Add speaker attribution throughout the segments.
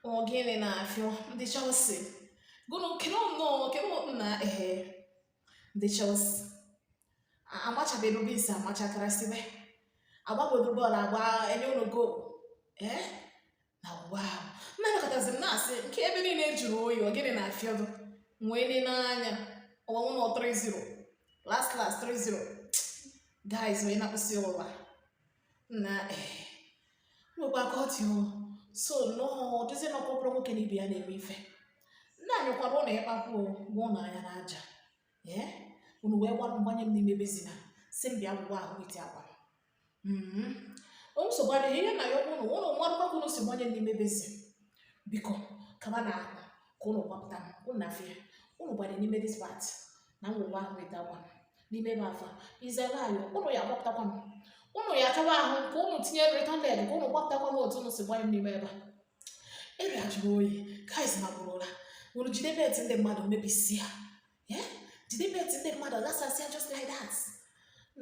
Speaker 1: Ọ gịnị na-afịọ ndị Chelsea gụnụ kere nnọọ kere na ehe ndị Chelsea amachabedo bisi amachakara sibe agbabodo bọọlụ agba e nye unu gol ee na ụwa ahụ nna nọkọtazi m na-asị nke ebe niile jụrụ oyi ọ gịnị na-afịọdụ nwee ne n'anya ọwa nwụnọ 3-0 last last 3-0 guys onye na-akpụsị ụwa na nwekwa ka ọ dị so nnọọ dịzie na ọkpọkpọrọ nwoke na ibe ya na-eme ife nna anyị kwara ụnụ ya kpakpụ gwa ụnụ anya na aja ee unu wee gbanye m n'ime basin a sị m bịa wụwa ahụ iti akwa nsogbu adịghị ihe m na-ayọ bụ ụnụ ụnụ marakwa ka unu si gbanye m n'ime basin a biko kaba na akwa ka ụnụ gbapụta m ụnụ na-afịa ụnụ gbanye n'ime dis pati na m wụwa ahụ weta akwa n'ime bath a izere ayọ ụnụ ya gbapụtakwa m ụnụ ya chọwa ahụ ka ụnụ tinye return leg ka ụnụ gbapụtakwa m otu ụnụ si gbanye m n'ime ebe a area jụrụ oyi guys ma bụrụ ụra unu jide bet ndị mmadụ mebisi ya jide bet ndị mmadụ ghasasịa just like that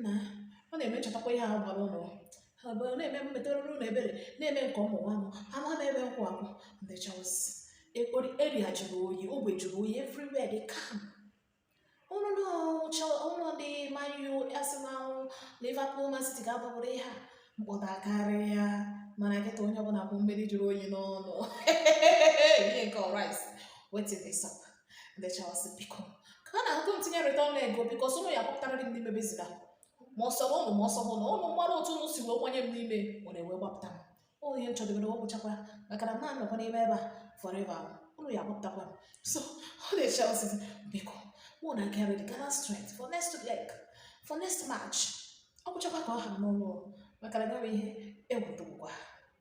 Speaker 1: na ọ na-emechọtakwa ihe ahụ gbara ụnụ ha bụ na-eme m metụrụ ụnụ ebere na-eme nke mụnwa ama m ebe m kwụ akwụ ndị Chelsea ekpori area jụrụ oyi ogbe jụrụ oyi everywhere dị calm ụnụ ndị ọzọ ụnụ ndị Man U Arsenal Liverpool Man City ga-abụbụrụ ihe a mkpọtụ karịa mana kịta onye ọbụla kpụ mmiri jụrụ oyi n'ọnụ ihe nke ọrais wetin dey sup ndị Chelsea biko ka a na-agụ tinye return leg biko ụnụ ya kpọpụtara gị n'ime basin a make sure na ụnụ make sure na ụnụ mara otu ụnụ si wee kwanye m n'ime ọ na-ewe gbapụta m ụnụ ihe m chọdebere ọ gwụchakwa maka na m na-anọkwa n'ime ebe a forever ụnụ ya gbapụtakwa m so ndị Chelsea biko make una get ready gather strength for next leg for next match ọ gwụchakwa ka ọ ha n'ụlọ maka na enweghị ihe egwu dụgwa